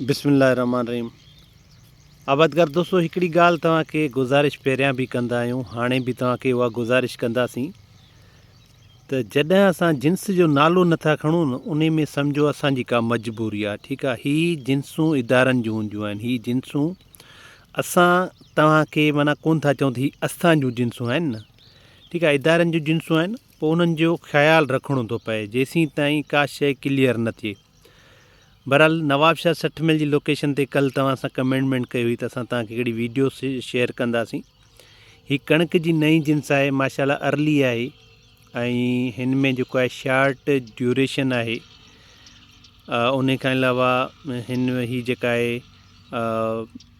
بسم الله الرحمٰن الرحيم آبادگار دوستو هڪڙي ڳالهه توهان کي گذارش پهريان به ڪندا آهيون هاڻي به توهان کي اها گذارش ڪنداسين ته جڏهن اسان جنس جو نالو نٿا کڻون ان ۾ سمجهو اسان جي ڪا مجبوري آهي ٺيڪ آهي هي جنسون ادارن جون هونديون آهن هي جنسون اسان توهان کي مانا ڪون ٿا چون ته هي اسان جون جنسون آهن نه ٺيڪ آهي ادارن جون جنسون آهن پوء انهن جو خيال رکڻو ٿو پئي جيسين تائين ڪا شيء ڪليئر نه ٿئي بھرحال نواب شاھ سٺ ميل جي لوڪيشن تي ڪلھ توھان سان ڪمينٽمينٽ ڪئي ھئي ته اسان توھان کي ھڪڙي ويڊيو شيئر ڪنداسين ھي ڪڻڪ جي نئين جنس آھي ماشاءالله ارلي آھي ۽ ھن ۾ جيڪو آھي شارٽ ڊيوريشن آھي ان کان علاوه ھن ھي جيڪا آھي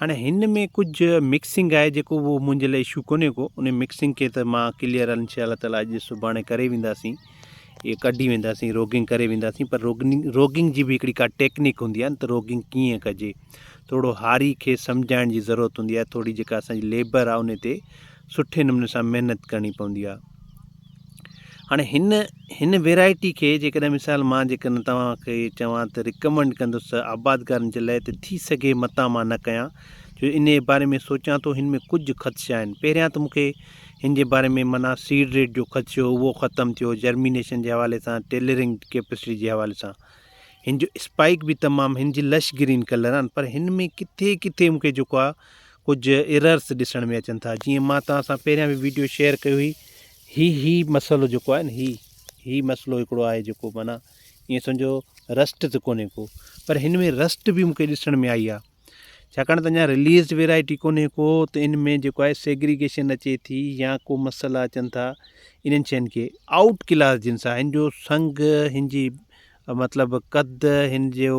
هاڻي هن ۾ ڪجهه مڪسنگ آهي جيڪو اهو منهنجي لاء اشو ڪونهي ڪو ان مڪسنگ کي ته مان ڪليئر ان شاء الله تعالٰي اڄ سڀاڻي ڪري وينداسين اهي ڪڍي وينداسين روگنگ ڪري وينداسين پر روگنگ روگنگ جي به هڪڙي ڪا ٽيڪنيڪ هوندي آهي ته روگنگ ڪيئن ڪجي ٿورو هاري کي سمجهائڻ جي ضرورت هوندي آهي ٿوري جيڪا اسانجي ليبر آهي ان تي سٺي نموني سان محنت ڪرڻي پوندي آهي هاڻي هن هن ويرائٽي کي جيڪڏهن مثال مان جيڪڏهن توهان کي چوان ته رڪمنڊ ڪندس ته آبادگارن جي لاء ته ٿي سگهي متان مان نه ڪيان جو انهيء باري ۾ سوچيان ٿو هن ۾ ڪجهه خدشا آهن پهريان ته مون کي هن جي باري ۾ معنيٰ سيڊ ريٽ جو خدشو اهو ختم ٿيو جرمينيشن جي حوالي سان ٽيلرنگ ڪيپسٽي جي حوالي سان هن جو اسپائڪ به تمام هن جي لش گرين ڪلر آهن پر هن ۾ ڪٿي ڪٿي مون کي جيڪو آهي ڪجھ ايررس ڏسڻ ۾ اچن ٿا جيئن مان توهان سان پهريان به ويڊيو شيئر ڪئي هئي هي هي مسئلو جيڪو آهي نه هي هي مسئلو هڪڙو آهي جيڪو معنيٰ ائين سمجھو رسٽ ته ڪونهي ڪو پر هن ۾ رسٽ به مونکي ڏسڻ ۾ آئي آهي ڇاڪاڻ ته اڃا رليز ويرائٽي ڪونهي ڪو ته ان ۾ جيڪو آهي سيگريگيشن اچي ٿي يا ڪو مسئلا اچن ٿا انهن شين کي آؤٽ ڪلاس جنس آهن جو سنگ هن جي مطلب قد هن جو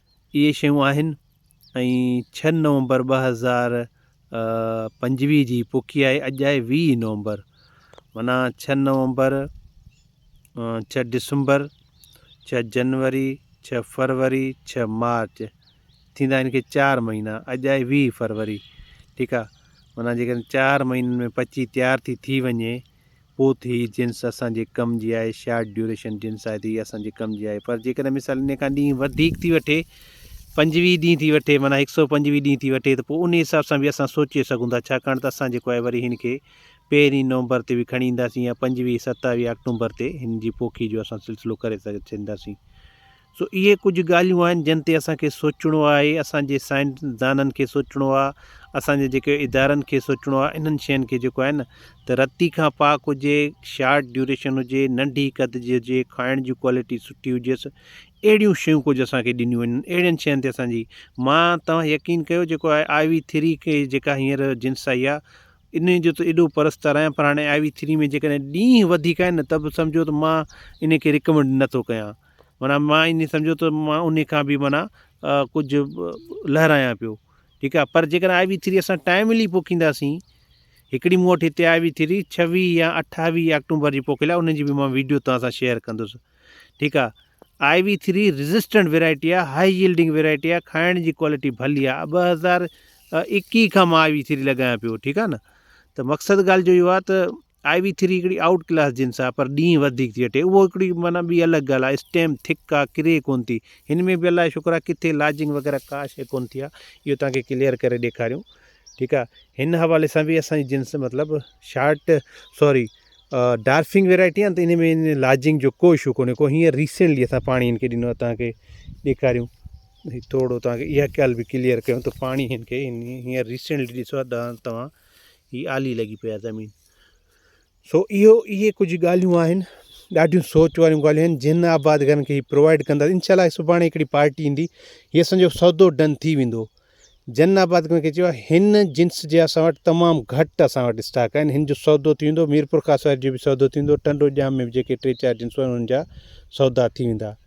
اهي شيون آهن ۽ ڇهه نومبر ٻه هزار پنجويهه جي پوکي آهي اڄ آهي ويهه نومبر معنيٰ ڇهه نومبر ڇهه ڊسمبر ڇهه جنوري ڇهه فروري ڇهه مارچ ٿيندا آهن کي چار مهينا اڄ آهي ويهه فروري ٺيڪ آهي معنيٰ جيڪڏهن چار مهينن ۾ پچي تيار ٿي ٿي وڃي پوء ته هي جنس اسان جي ڪم جي آهي، شارٽ ڊيوريشن جنس آهي ته هي اسان جي ڪم جي آهي پر جيڪڏهن مثال انهي کان ڏينهن وڌيڪ ٿي وٺي، پنجويهه ڏينهن ٿي وٺي معنيٰ هڪ سؤ پنجويهه ڏينهن ٿي وٺي ته پوء انهي حساب سان به اسان سوچي سگهون ٿا ڇاڪاڻ ته اسان جيڪو آهي وري هن کي پهرين نومبر تي به کڻي اينداسين يا پنجويهه ستاويهه آڪٽومبر تي هن جي پوکي جو اسان سلسلو ڪري ڇڏينداسين سو اهي ڪجهه ڳالهيون آهن جن تي اسان کي سوچڻو آهي، اسان جي سائنسدانن کي سوچڻو آهي، اسان جي جيڪي ادارن کي سوچڻو آهي انهن شين کي جيڪو آهي نه ته رتي کان پاڪ هجي، شارٽ ڊيوريشن هجي، ننڍي قد جي هجي، کائڻ جي ڪوالٽي سٺي هجيس، اهڙيون شيون ڪجهه اسان کي ڏنيون وڃن، اهڙين شين تي اسان جي مان تون يقين ڪيو جيڪو آء آء وي ٿري کي جيڪا هينئر جنس آئي آهي انهي جو ته ايڏو پرستار آهيان پر هاڻي آء وي ٿري ۾ جيڪڏهن ڏينهن وڌيڪ آهن نه ته به سمجهو ته مان انهي کي رڪمنڊ نه ٿو ڪيان. معنيٰ مان ائين سمجهو ته مان انهي کان به معنيٰ ڪجهه لهرايان پيو ٺيڪ آهي پر جيڪڏهن آء وي ٿري اسان ٽائملي پوکينداسين هڪڙي مون وٽ هتي آء وي ٿري ڇويهه يا اٺاويهه آڪٽومبر جي پوکيل آهي ان جي به مان ويڊيو توهان سان شيئر ڪندس ٺيڪ آهي I V three resistant variety آهي هاء يلڊنگ ويرائٽي آهي کائڻ جي ڪوالٽي ڀلي آهي ٻه هزار ايڪيهه کان مان آء وي ٿري لڳايان پيو ٺيڪ آهي نه ته مقصد ڳالهه جو اهو آهي ته آء وي ٿري هڪڙي آئوٽ ڪلاس جنس آ پر ڏينهن وڌيڪ ٿي وٺي اهو هڪڙي معنيٰ ٻي الڳ ڳالهه آ اسٽيم ٿڪ آ ڪري ڪون ٿي هن ۾ به الله جو شڪر آ ڪٿي لاجنگ وغيره ڪا شي ڪون ٿي آ اهو توهان کي ڪليئر ڪري ڏيکاريون ٺيڪ آ هن حوالي سان به اسانجي جنس مطلب شارٽ سوري ڊارفنگ ويرائٽي آ ته ان ۾ لاجنگ جو ڪو اشو ڪونهي ڪو هينئر ريسينٽلي اسان پاڻي هن کي ڏنو آ توهان کي ڏيکاريون هي ٿورڙو توهان کي اها ڳالهه به ڪليئر ڪيون ته پاڻي هن کي هينئر ريسينٽلي ڏسو ڏا توهان هي آلي لڳي پئي آهي زمين. سو اهو اهي ڪجهه ڳالهيون آهن ڏاڍيون سوچ واريون ڳالهيون آهن جن آبادگارن کي هي پرووائيڊ ڪندا انشاء الله سڀاڻي هڪڙي پارٽي ايندي هي اسان جو سودو ڊن ٿي ويندو جن آبادگارن کي چيو آهي هن جنس جي اسان وٽ تمام گهٽ اسان وٽ اسٽاڪ آهن هن جو سودو ٿي ويندو ميرپور خاص واري جو به سودو ٿي ويندو ٽنڊو ڄام ۾ به جيڪي ٽي چار جنسون آهن انهن جا سودا ٿي ويندا